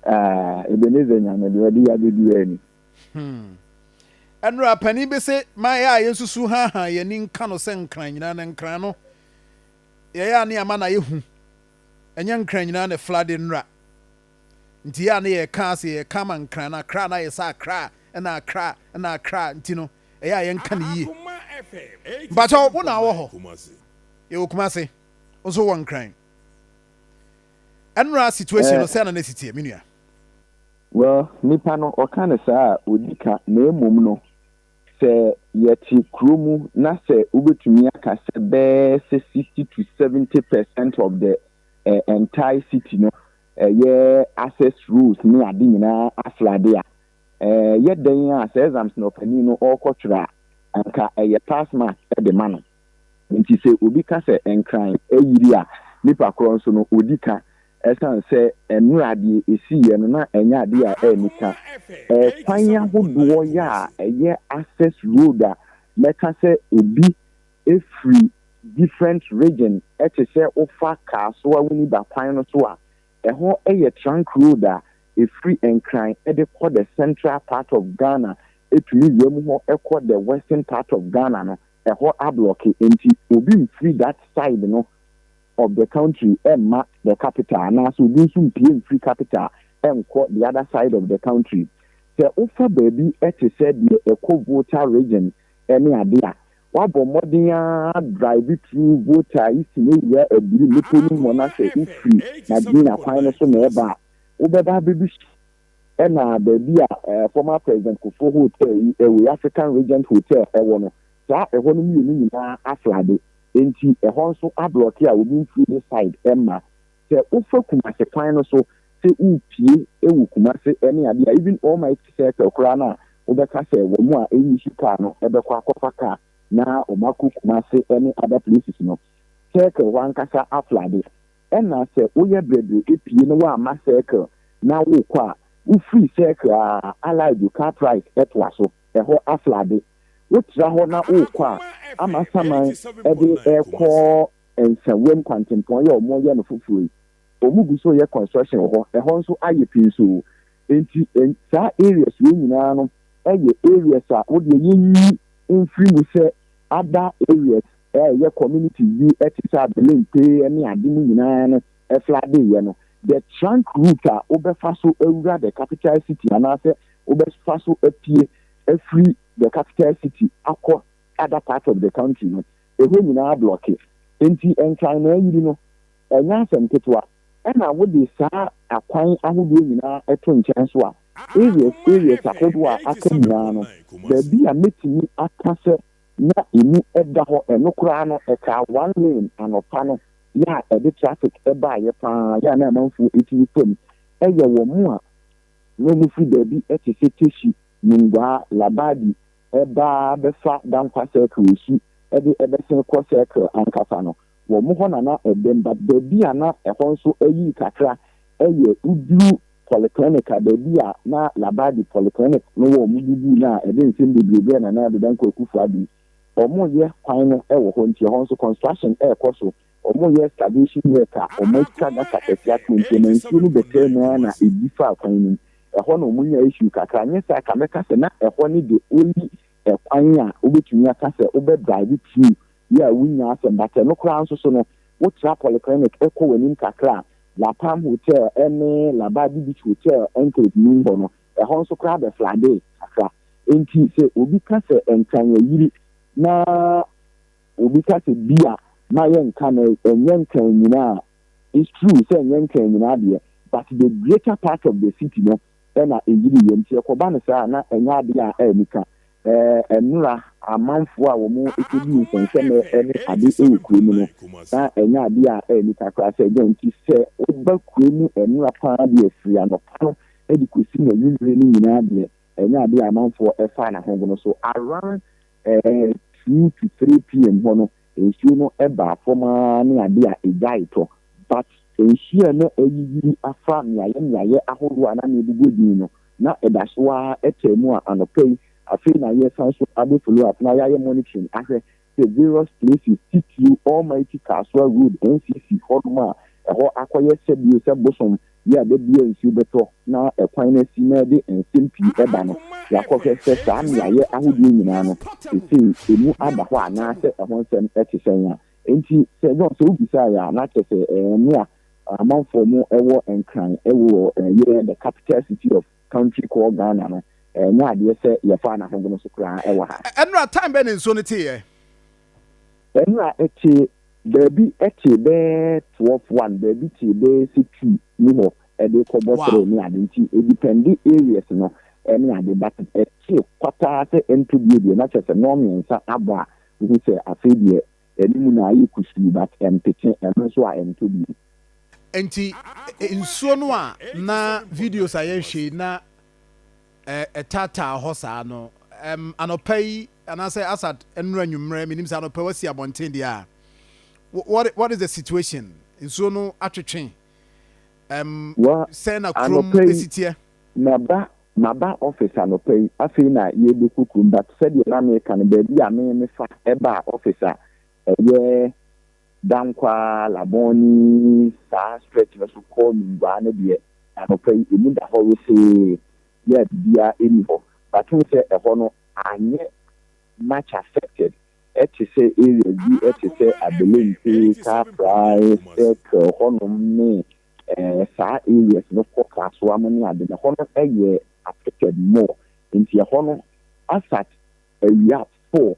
Ah, Ebenezer Nyame deɛ ɔde ya bɛduaa ni. Hmm. Ɛnora panin bi se, ma yɛ a yɛnsusu haahaa yɛn ani nka no sɛ nkran nyinaa na nkran no yɛyɛ a ne ama no ayɛ hu. Ɛnyɛ nkran nyinaa na ɛfla de nnora. Nti yɛ a ne yɛka ase yɛka ma nkran no akra na ayɛ sɛ akra na akra na akra nti no ɛyɛ a yɛnka no yie. Mpakyɛw, wo na wɔ hɔ? Yɛwɔ Kumase nso wɔ nkran. Ɛnora situation no sɛn na na ɛsi teɛ, me nua? Well, nipa no ɔka no saa a, ɔdi ka, na mmom no, sɛ yɛte kuro mu na sɛ wobɛtumi aka sɛ bɛyɛ sɛ sixty to seventy percent of the eh, entire city no ɛyɛ eh, access roads ne ade nyinaa aflade a, eh, yɛ dɛn a sɛ exams na ɔpanin no ɔrekɔtwerɛ a, anka ɛyɛ pass mark de ma no. Enti sɛ obi ka sɛ Nkran ayiri a, nnipa korɔ nso no, ɔdi ka ɛsiane sɛ mmerɛ deɛ ɛsiiɛ no na ɛnyɛ adeɛ a anni ka. Kwan ahodoɔ yɛ a ɛyɛ access road a mɛka sɛ obi firi different region te sɛ wofa car so a woni ba kwan no so a, ɛhɔ yɛ trunk road a ɛfiri Nkran de kɔ the central part of Ghana ɛtumi wura mu hɔ kɔ the western part of Ghana no. ɛhɔ ablɔke nti obi mfiri that side no of the country mma the capital anaasɛ obi nso mpue mfiri capital nkɔ the other side of the country. Sɛ wofa baabi te sɛ deɛ ɛkɔ Volta region ne adeɛ a, woabɔ mmɔden ara drive through Volta Eastern awura Aburi mmepɔ no mu hɔ na sɛ wofiri Madina kwan no so na ɛreba a, wobɛba abɛdu Ɛna baabi a former President Kufuor Hotel yi ɛwɔ yi, African Regent Hotel ɛwɔ no, saa ɛhɔ no mmienu nyinaa aflade, enti ɛhɔ nso ablɔke a obi mfiri ne side mma. Sɛ wofa Kumasi kwan no so sɛ worepue wɔ Kumasi ne adeɛ a, even Almighty Circle koraa no a wobɛka sɛ wɔn a ɛnisi car no bɛkɔ akɔfa car na wɔakɔ Kumasi ne other places no, Circle hɔ ankasa aflade. Ɛna sɛ woyɛ brɛbrɛ epie na woamma circle na wokɔ a, wofiri circle a, Allied car price ɛtoa so, ɛhɔ aflade. Wotra hɔ na wokɔ a, ama saman ɛde ɛrekɔ Nsawam kwantempɔn yi a wɔreyɛ no foforɔ yi, wɔgu so reyɛ construction wɔ hɔ, ɛhɔ nso ayɛ pinsoo. Enti saa areas wei nyinaa no yɛ areas a wodeɛ yɛnyi mfiri mu sɛ other areas a ɛyɛ community bi te sɛ Adelente ne ade no nyinaa no flooded yɛ no, the trunk route a wobɛfa so awura the capital city anaasɛ wobɛfa so apue afiri the capital city akɔ other part of the country no, ɛhɔ nyinaa ablɔke. Enti Nkran na ayiri no, ɛnyɛ asɛm ketewa. Ɛna wode saa akwan ahodoɔ nyinaa to nkyɛn so a, areas areas ahodoɔ a aka nyinaa no, baabi a mɛtumi aka sɛ, na emu da hɔ, ɛno koraa no ɛtaa one lane anɔpa no, yɛ a ɛde traffic baeɛ paa, yɛ a na amanfoɔ tumi fa mu, ɛyɛ wɔn a na wɔfiri baabi te sɛ Teshie, Nungua, Labadi ba bɛfa Dankwa Circle resu de bɛsen kɔ Circle ankasa no, wɔn hɔ na na ɛdam but baabi a na ɛhɔ nso ayiri kakra yɛ woduru Polyclinic a baabi a na Labadi Polyclinic no wɔ wɔn didii no a ɛde nsɛm bebree brɛɛ Nana Addo Dankwa Akuffo Addo. Wɔreyɛ kwan no wɔ hɔ nti ɛhɔ nso construction rekɔ so, wɔreyɛ excavation work a wɔatwa gutter kɛse ato nti ɛma nsuo no bɛtaa mu ara na ɛdi faa kwan no mu. Ɛhɔ na wɔnyaa issue kakra nyɛ saa ka mɛka sɛ na ɛhɔ ne the only kwan a wobɛtumi aka sɛ wobɛ drive through Bi a wunnya asɛm da. Sɛ ɛno koraa nso so no, wotra polyclinic kɔ w'anim kakra a, La Palm Hotel ne La Barbe Beach Hotel enclave no mu hɔ no, ɛhɔ nso koraa bɛfladee kakra. Enti sɛ obi ka sɛ Nkran ayiri na obi ka sɛ bi a, mma yɛnnka no, ɛnyɛ Nkran nyinaa. It's true sɛ ɛnyɛ Nkran nyinaa deɛ, but the greater part of the city no, na eyiri yɛn. Sɛ ɛkɔba no saa a, na ɛnyɛ ade a anika. Ɛnnora, amanfoɔ a wɔkɔdii nsɛnsɛmnɛ ne ade wɔ kuro mu no, na ɛnyɛ ade a anika koraa. Sɛ dɛn nti? Sɛ woba kuro mu nnora pa ara deɛ, firi anɔpa no de kɔsi n'anwummerɛ no nyinaa deɛ, ɛnyɛ ade a amanfoɔ fa n'ahogono so. Around two to three PM hɔ no, Nsuo no baa fam ara ne adeɛ a ɛgyaee tɔ. But nsuo a na ayiyiri afa mmeaeɛ mmeaeɛ ahoroɔ a na ano abubu adwini no, na ɛda so ara taa mu a anɔpa yi afei na yɛresan so abɛ follow up na yɛayɛ monitoring ahwɛ sɛ various places titiriw Almighty Kasoa Road NCC hɔnom a ɛhɔ akɔyɛ sɛ bio sɛ bosom Bere a da biara nsu bɛtɔ na ɛkwan no asi na ɛde nsɛm pii ba no, yɛakɔhwɛ sɛ saa mmeae ahodoɔ nyinaa no, seesei emu ada hɔ anaasɛ ɛho nsɛm te sɛn. A Enti, Sir John, sɛ wobisa yɛn a, na kyerɛ sɛ ɛɛ, mmea amanfoɔ mu wɔ Nkran wɔ yɛɛ the capital city of. Country called Ghana no, ɛnyɛ adeɛ sɛ yɛfaa n'ahogono so koraa wɔ ha. Ɛnora, time bɛn na nsuo no teeɛ? Ɛnora, ɛtee baabi tee bɛɛ twelve, one, baabi tee bɛɛ sɛ two mu hɔ de rekɔbɔ three ne ade nti ɛdepɛnde areas no ne ade but ɛtee kwata ara sɛ ɛntɔ bio deɛ na kyerɛ sɛ nnɔn mmiɛnsa abɔ a wohu sɛ afei deɛ Ɛno mu na ayɛ kusuu but ɛmpete, ɛno nso a ɛntɔ bio. Nti nsuo no a na videos a yɛhwɛ yi na ɛtaataa hɔ saa no ɛm anɔpa yi anaasɛ asat ɛnora anwummerɛ menim sɛ anɔpa wasi abɔnten deɛ a what, what is the situation nsuo no atwetwe ɛm sɛn na kurom esiteɛ. Maba Maba office anɔpa yi, afei na yɛrebɛkɔ kurom but sɛdeɛ na meka no baabi a me mefa baa office a ɛyɛ Dankwa, Labone saa stretch no so kɔ Nungua no deɛ anɔpa yi ɛmu da hɔ wesee yɛa biribiara ɛnni hɔ but wohu sɛ ɛhɔ no anyɛ much affected ɛte sɛ areas bi te sɛ Abelempe, Car Price, Circle hɔnom ne eh, saa areas no kɔ Kasoa mu ne ade no, ɛhɔ no yɛ affected more, nti ɛhɔ no asat awia four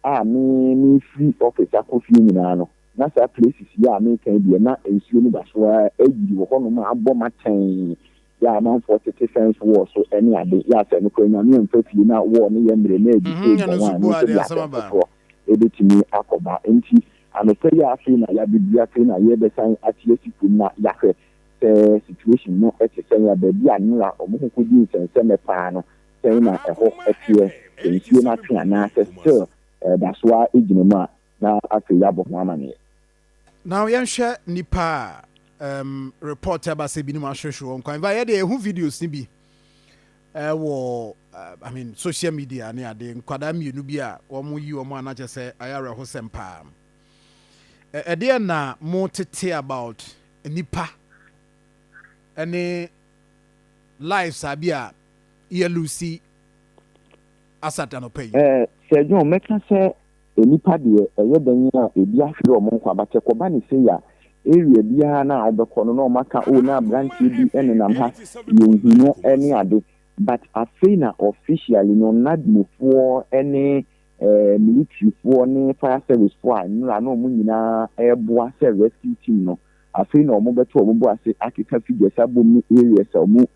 a me me firi office akɔ fie nyinaa no, na saa places yi a meka yi deɛ na nsuo no da so ara ayiri wɔ hɔnom a abɔ ma tɛn, yɛ amanfoɔ tete fence wall so ne ade, yɛ asɛ no kora nyame mfa fie na wall no yɛ mmerɛ na adi so bɔ wɔn a ɛno nso deɛ asɛm foforɔ ɛbɛtumi akɔba nti. Anɔpa yi a afei na yɛabeduru afei na yɛrebɛsan akyerɛ sukuu na yɛahwɛ sɛ situation no te sɛn a baabi a nora wɔn ho kɔdi nsɛnsɛmɛ paa no sɛn na ɛhɔ teɛ sɛ nsuo no atwe anaa sɛ still ɛda so ara gyina mu a na afei yɛabɔ ho amaneɛ. Now yɛnhwɛ nnipa a um report ɛba sɛ binom ahwehwe wɔn kwan. Ɛba yɛdeɛ yɛhu videos no bi. Ɛwɔ I mean social media ne ade nkwadaa mmienu bi a wɔn yi wɔn a na kyɛ sɛ ayɛ awerɛhosɛm paa. Ɛ ɛdeɛ na mo tete about nipa ɛne life saa bi a yɛ Lucy asat anɔpa yi. Ɛɛ Sir John mɛka sɛ Nnipa deɛ, ɛyɛ dɛn a ebi ahwere wɔn nkwa, but ɛkɔba no sei a, area biara no a wobɛkɔ no na wɔaka, oh, na aberanteɛ bi nenam ha, yɛnhu no ne ade. But afei na officially no, NADMOfoɔ ne eh, militaryfoɔ ne fire servicefoɔ a nnora na wɔn nyinaa reboa sɛ rescue team no, afei na wɔbɛto wɔn bo ase akeka figures abom ne areas a wɔn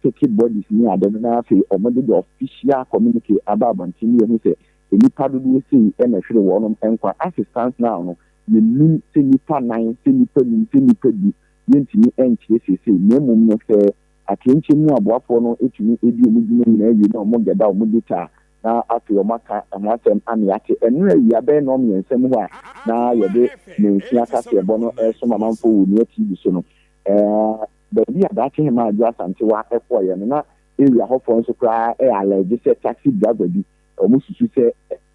peke bodies ne ade no, na afei wɔde the official communique aba abɔnten na yɛhu sɛ nnipa dodoɔ sei na ɛhwere wɔnom nkwa as it stands now no, yɛnnim sɛ nnipa nan, sɛ nnipa num, sɛ nnipa du, yɛntumi nkyerɛ seesei, na mmom no sɛ atɛnkyɛ mu aboafoɔ no tumi di wɔn dwuma nyinaa wie na wɔn gɛda wɔn data a, na afei wɔn aka ɛho asɛm ama yɛate, ɛnora awia bɛyɛ nnɔn mmiɛnsa mu hɔ a na yɛde mansin akaseɛbɔ no ɛresom amanfoɔ wɔ Onua TV so no, ɛɛ baabi a daakye Hemaa Adwo Asantewaa kɔeɛ no na area hɔfoɔ nso koraa ɛɛ allege sɛ taxi driver bi Wɔsusu sɛ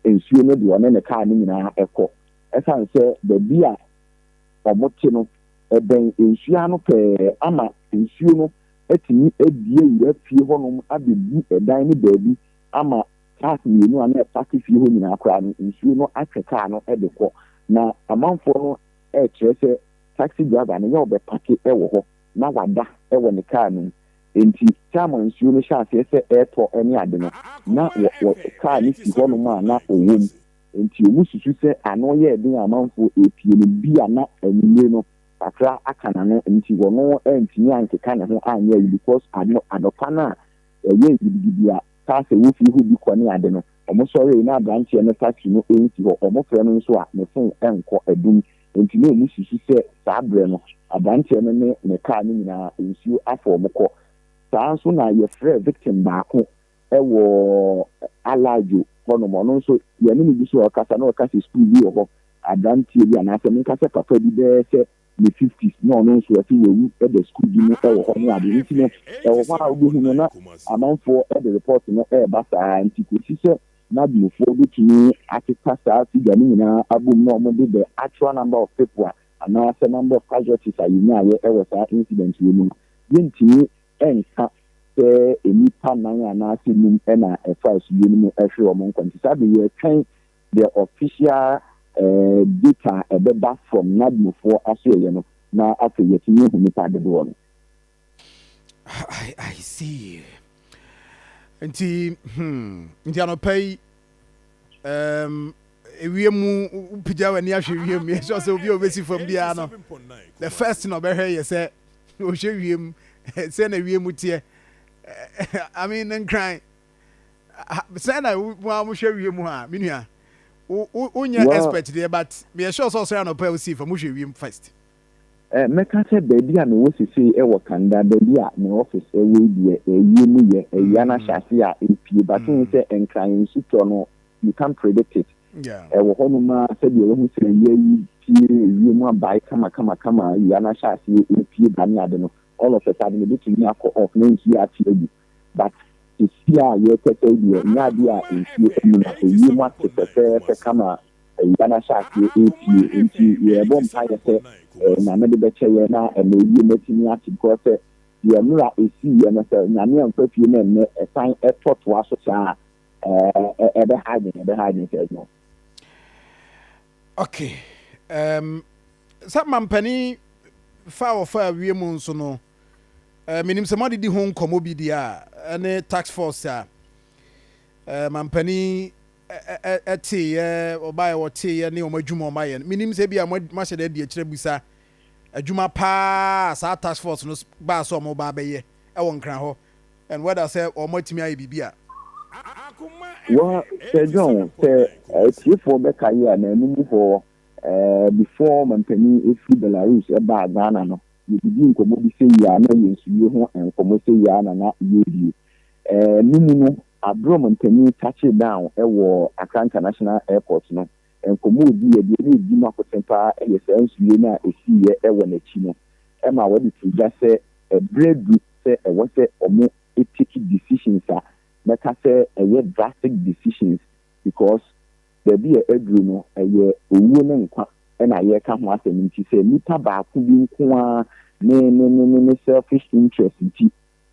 nsuo no de ɔne ne kaa no nyinaa kɔ ɛsiane sɛ baabi a wɔte no bɛn nsuo ano pɛɛ ama nsuo no atumi abue wura fie hɔnom abɛbu ɛdan no baabi ama cars mmienu a na ɛpake fie hɔ nyinaa koraa no nsuo no atwe kaa no de kɔ. Na amanfoɔ no rekyerɛ sɛ taxi driver no yɛ ɔbɛpake wɔ hɔ na wada wɔ ne kaa no mu. Enti Sam a nsuo no hyɛ aseɛ sɛ ɛretɔ ne ade no, na wɔ, wɔ, kaa no si hɔnom a na ɔwɔ mu. Enti wɔsusu sɛ ano yɛɛ den a amanfoɔ repie no, bia na anwummere no kakra aka n'ano nti ɔno antumi ankeka ne ho anyɛ ayi because ano, anɔpa no a ɛyɛɛ gidigidi a kaa sɛ wɔfiri hɔ bi kɔ ne ade no, wɔsɔree na aberanteɛ no taxi no nsi hɔ, wɔfrɛ no nso a ne phone nkɔ, adum Enti na wɔsusu sɛ saa berɛ no, aberanteɛ no ne ne kaa no nyinaa, nsuo afa wɔn kɔ. Saa ara nso na yɛfrɛɛ victim baako wɔ Alajo hɔnom. Ɔno nso, yɛne no gu so rekasa na ɔreka sɛ sukuu bi wɔ hɔ, aberanteɛ bi anaasɛ menka sɛ papa bi bɛyɛ sɛ ne fifties na ɔno nso ɔse wawu da sukuu bi mu wɔ hɔ ne adeɛ. Nti no, ɛwɔ hɔ a wobɛhu no na amanfoɔ de report no reba saa ara nti kɔsi sɛ Nabmufoɔ bɛtumi akeka saa figure no nyinaa abom na wɔn de the actual number of people a anaa sɛ number of casualties a yɛnyaeɛ wɔ saa incident wei mu no, yɛntumi nka sɛ nnipa nnan anaa sɛ num na ɛfaa asuwie no mu hwee wɔn nkwa. Nti saa berɛ yi yɛretwɛn the official data a ɛbɛba from Nabmufoɔ asoɛeɛ no na afei yɛatumi ahu nnipa dodoɔ no. I, I see. Nti, hmm, nti anɔpa yi, um, ewiem mu pagya w'ani ahwɛ ewiem mu yɛsɛ sɛ obi a obesi fam biara no the first na ɔbɛhwɛ yɛ sɛ ohwɛ wiem sɛ na ewiem mu teɛ i mean ne nkran sɛ na mo a mohwɛ wiem mu a me nua wonyɛ expert deɛ but meyɛ sure sɛ ɔsɔre anɔpa a osii fam wohwɛ wiem first Eh, mɛka sɛ baabi a mewɔ sesei ɛwɔ Canada, baabi a me office wɔ yi deɛ, eh, wiem yɛ, awia no ahyɛ ase a ɛrepue, but wohu sɛ Nkran nsutɔ no, you can't predict it. Ɛwɔ hɔnom ara sɛdeɛ woahu sɛ awia yi pue, wiem abae kama kama kama, awia no ahyɛ aseɛ ɛrepue ba ne ade no, all of a sudden ɛbɛtumi akɔ off na nsuo ate agu. But sesie a yɛrekasa yi deɛ nyɛ adeɛ a nsuo ayi na ayie mu ate fɛfɛɛfɛ kama awia no ahyɛ aseɛ repue nti yɛrebɔ mpaeɛ sɛ Nyame de bɛkyɛ yɛn na ɛma ayie mu atumi ate because sɛ deɛ mmera ɛsiiɛ no sɛ Nyame amfa fie na ɛnnɛ ɛsan ɛtɔ toa so saa a ɛbɛha yɛn ɛbɛha yɛn sɛ no. Okay, um, sɛ mampanin fa a wɔfa awie mu nso no. Menim sɛ moadedi ho nkɔmmɔ bi deɛ a ɛne task force a mampanin teeɛ, ɔbaeɛ wɔteeɛ ne wɔn adwuma wɔn ayɛ no. Menim sɛ ebia moahyɛ no adi akyerɛ bisa adwuma paa a saa task force no baa sɛ wɔn ba bɛyɛ wɔ Nkran hɔ and whether sɛ wɔn atumi ayɛ biribi a. Wɔ Sir John, sɛ atiefoɔ bɛkae a, na ɛno mu hɔ before mampanin firi Belarus baa Ghana no, Yedidii nkɔmmɔ bi sɛ yi ara na ɛyɛ nsuwie ho nkɔmmɔ sɛ yi ara na na yɛredie. Ɛno mu no, Abrom mpanin touched down wɔ Accra International Airport no. Nkɔmmɔ a ɔdiiɛ deɛ na ɛdi mu akoten pa ara yɛ saa nsuwie no a ɛsiiɛ wɔ n'akyi no. Ɛmaa wɔde too dwa sɛ ɛberɛ adu sɛ ɛwɔ sɛ wɔtake decisions a mɛka sɛ ɛyɛ drastic decisions because baabi a aduru no, ɛyɛ owuo ne nkwa na yɛreka ho asɛm nti, sɛ nipa baako bi nko ara ne ne ne ne ne selfish interest nti,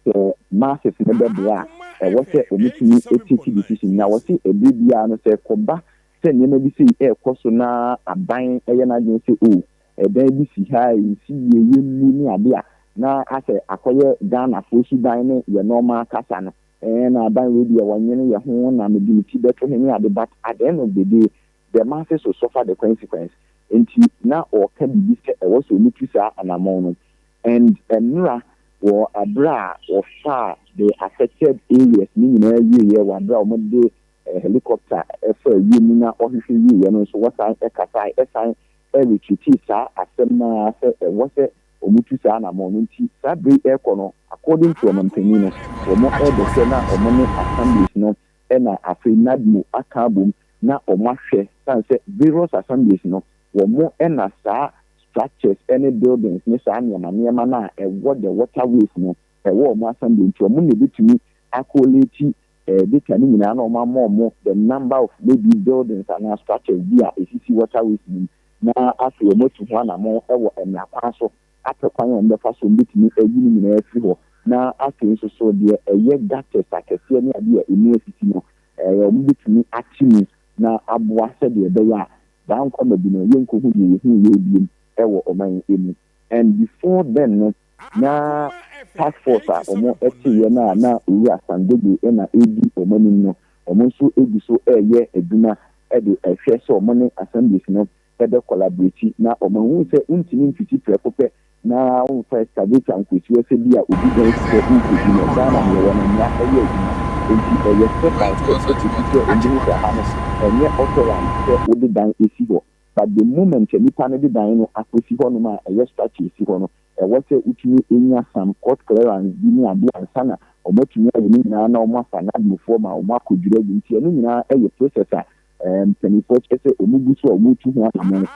sɛ masses no bɛboa a, ɛwɔ sɛ wɔtumi take decision. Na wɔse ɛberɛ biara no sɛ ɛkɔba sɛ nneɛma bi sei ɛrekɔ so na aban yɛ n'adwene sɛ oh, ɛdan bi si ha a ɛnsi yie, yɛmmu ne adeɛ a, na asɛ akɔyɛ Ghanafoɔ suban ne yɛn nɔɔma kasa no. Eeh na adan wei deɛ wɔnwene yɛ ho na mede me ti bɛto he ne ade but at the end of the day the masses will suffer the consequence nti na ɔɔka biribi sɛ ɛwɔ sɛ ɔmu tu saa anamɔn no and mmra wɔ aberɛ a wɔfaa the affected areas no nyinaa wieɛ wɔ aberɛ a wɔn de helicopter faa wiem na ɔhwehwɛ wieɛ no nso wɔsan kasae ɛsan retreatii saa asɛm no ara sɛ ɛwɔ sɛ wɔn tu saa anamɔn no nti saa bere yi ɛkɔ no according to ɔman panyin no wɔn ɛbɛ hwɛ na wɔn ne assemblies no ɛna afei NADMO aka abom na wɔn ahwɛ sane sɛ various assemblies no wɔn ɛna saa structures ɛne buildings ne saa nneɛma nneɛma no a ɛwɔ the water ways no ɛwɔ wɔn assembly nti wɔn na ɛbɛtumi akoleeti Data no nyinaa na wɔama wɔn the number of maybe buildings anaa structures bi a ɛsisi waterways no mu, na afei wɔatu ho anammɔn wɔ mmara kwan so apɛ kwan a wɔbɛfa so a wɔbɛtumi ayi ne nyinaa afiri hɔ, na afei nso so deɛ ɛyɛ gutters akɛseɛ ne adeɛ a ɛmu asisi no wɔbɛtumi ate mu na aboa sɛdeɛ ɛbɛyɛ a saa nkwama bi no yɛnkɔhu deɛ yɛhuuiɛ biom wɔ ɔman yi mu. and before then no na task force a ɔmo ɛte yɛ no a na owura Sangogo ɛna edi ɔmo anim no ɔmo nso egu so ɛɛyɛ adwuma ɛde ɛhwɛ sɛ ɔmo ne assemblies no ɛbɛ collaborate na ɔmo ahu sɛ wontumi mfiti prɛko pɛ na wonfa excavator nkosiwa sɛ bi a obi dan si hɔ wokodi no Ghana neɛ wɔ no mmra ɛyɛ adwuma enti ɛyɛ step by step ɛkosi sɛ ɔmo hu sɛ ha no ɛnyɛ authorized sɛ wode dan esi hɔ. But the moment sɛ nipa no de dan no akosi hɔ nom a ɛyɛ structure esi hɔ no, ɛwɔ sɛ wotumi nya some court clearance bi ne adeɛ ansa na wɔn atumi ayɛ ne nyinaa na wɔn afa nadmofoɔ ma wɔn akɔ dwira gu. Nti ɛno nyinaa yɛ process a mpaninfoɔ kyerɛ sɛ wɔn gu so a wɔn tu ho anamɔn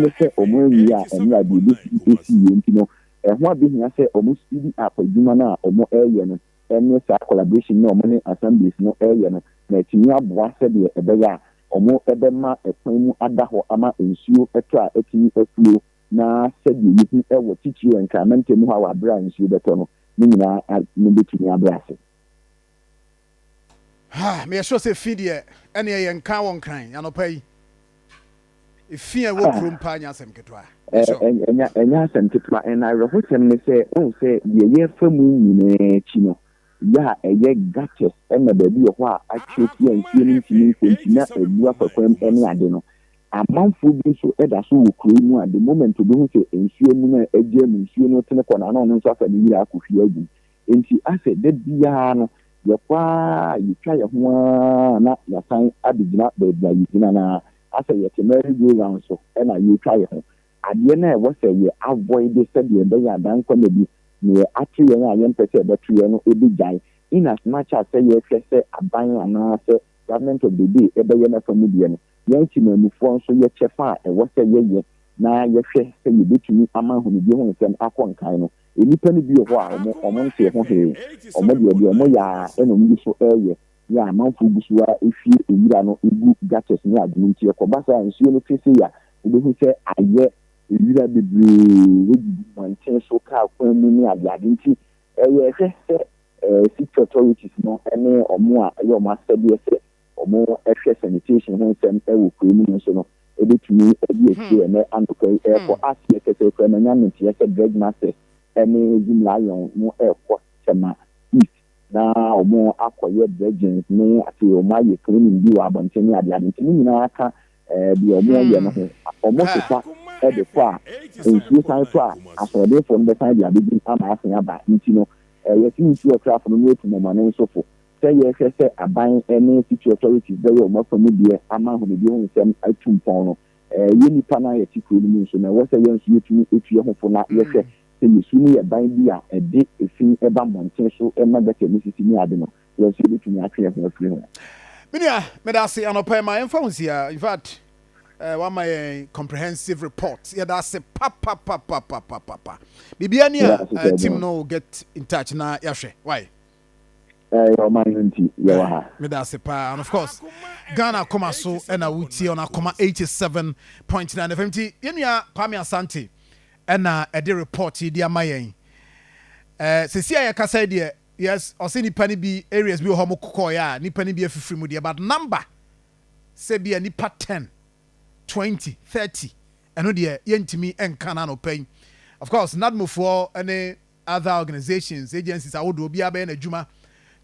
ne sɛ wɔn anwie a ɛmra deɛ ɛbɛsi ɛsi wie. Nti no ɛho abɛhia sɛ wɔn speedy up adwuma no a wɔn ɛyɛ no. ne saa collaboration no a wɔn ne Assemblies no reyɛ no, na atumi aboa sɛdeɛ ɛbɛyɛ a wɔbɛma kwan mu ada hɔ ama nsuo tɔ a atumi aflow na sɛdeɛ yɛhu wɔ titiriw wɔ Nkran mantam hɔ a wɔ aberɛ a nsuo bɛtɔ no, ne nyinaa no bɛtumi abrɛ ase. Ha, meyɛ sure sɛ fi deɛ ɛneɛ yɛnka wɔ Nkran anɔpa yi. Efi a ɛwɔ kurom paa nyɛ asɛm ketewa. Bishop. Ɛnyɛ asɛm ketewa. Ɛna awerɛhosɛm ne sɛ, wohu sɛ deɛ yɛrefa mu nyinaa akyi no, yɛ a ɛyɛ gutters na baabi wɔ hɔ a atwere afi a nsuo no ntumi nkɔ nti na abu afa kwan mu ne ade no, amanfoɔ bi nso da so wɔ kuro yi mu a the moment obi hu sɛ nsuo amuna a agyaa mu, nsuo no retene kɔ n'ano a ɔno nso afa ne wira akɔhwie agu mu. Enti asɛ da biara no yɛkɔ ara yɛtwa yɛn ho ara na yɛasan abɛgyina baabi a yɛgyina no ara, asɛ yɛte merry go round so na yɛretwa yɛn ho. Adeɛ no a ɛwɔ sɛ yɛ avoid sɛdeɛ ɛbɛyɛ a da nkwa nna bi neɛ ato yɛn a yɛmpɛ sɛ ɛbɛto yɛn no bɛgyae, in as much as sɛ yɛhwɛ sɛ aban anaa sɛ government of the day bɛyɛ n'afa mu deɛ no, yɛn temanmufoɔ nso yɛ kyɛfa a ɛwɔ sɛ yɛyɛ na yɛhwɛ sɛ yɛbɛtumi ama ahunudie ho nsɛm akɔ nkan no. Nnipa no bi wɔ hɔ a wɔnte ɛho hwee, wɔde deɛ wɔyɛ ara na wɔgu so reyɛ yɛ a amanfoɔ gu so ara hwie nwura no gu gutters ne adeɛ nti ɛkɔba saa a nsuo no twe sei a wobɛhu sɛ ayɛ nwura bebree agugu mmɔnten so, kaa kwan mu ne adeade nti yɛhwɛ sɛ City Authorities no ne wɔn a ɛyɛ wɔn asɛdeɛ sɛ wɔhwɛ sanitation ho nsɛm wɔ kurow mu no nso no, ebetumi adi akyire ɛnnɛ anɔpa yi rekɔ aseɛ kɛsɛ koraa. Manya no nteɛ sɛ Dredge Masters ne Zoom Lion no rekɔ Tema East na wɔakɔyɛ dredging ne afei wɔayɛ cleaning bi wɔ abɔnten ne adeade nti ne nyinaa ka deɛ wɔyɛ no ho. Wɔsesa de kɔ a, nsuo san tɔ a, asoɔdenfoɔ no bɛsan de abɛdwim ama asen aba nti no, yɛse nsuo ɔtrafo no na otu mɔmɔnensofo. sɛ yɛhwɛ sɛ aban ne city authorities bɛyɛ wɔn afa mu deɛ ama ahonidie ho nsɛm atu mpɔn no, yɛn nnipa no a yɛte kuro no mu nso no, ɛwɔ sɛ yɛn nso yɛtumi tu yɛn ho fo na yɛhwɛ sɛ yɛsu no yɛ ban bi a ɛde fi ba mmɔnten so ma gutter ne sisi ne ade no, yɛn nso yɛbɛtumi atwe yɛn ho afiri ho. Me nua, meda ase anɔpa yi, ma yɛmfa ho nsi ha. In fact, eh, wama yɛn comprehensive report. Yɛda ase papapapapapapa. Biribiara ni a, uh, team no will get in touch na yɛahwɛ. Why? ɛyɛ ɔman no nti yɛwɔ ha. Meda ase paa and of course Ghana akoma so ɛna wotie ɔno akoma 87.9 FM nti yɛn nua Kwame Asante ɛna ɛde report yi de ama yɛn ɛɛ sisi a yɛkasa yi deɛ yes ɔsɛ nipa no bi areas bi wɔ hɔ mo kɔkɔɔyɛ a nipa no bi afifiri mu deɛ but number sɛ bi a nipa 10 20 30 ɛno deɛ yɛntumi nka no anɔpa yi of course nadmofoɔ ne other organisations, agencies ahodoɔ, obiara bɛyɛ n'adwuma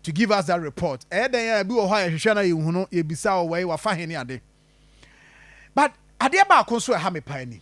to give us that report, ɛyɛ dɛn a ebi wɔ hɔ a yɛhwehwɛ na yɛnhu no, yɛbisa o wɛi wafa he ne ade but adeɛ baako nso a ɛha me paa ni,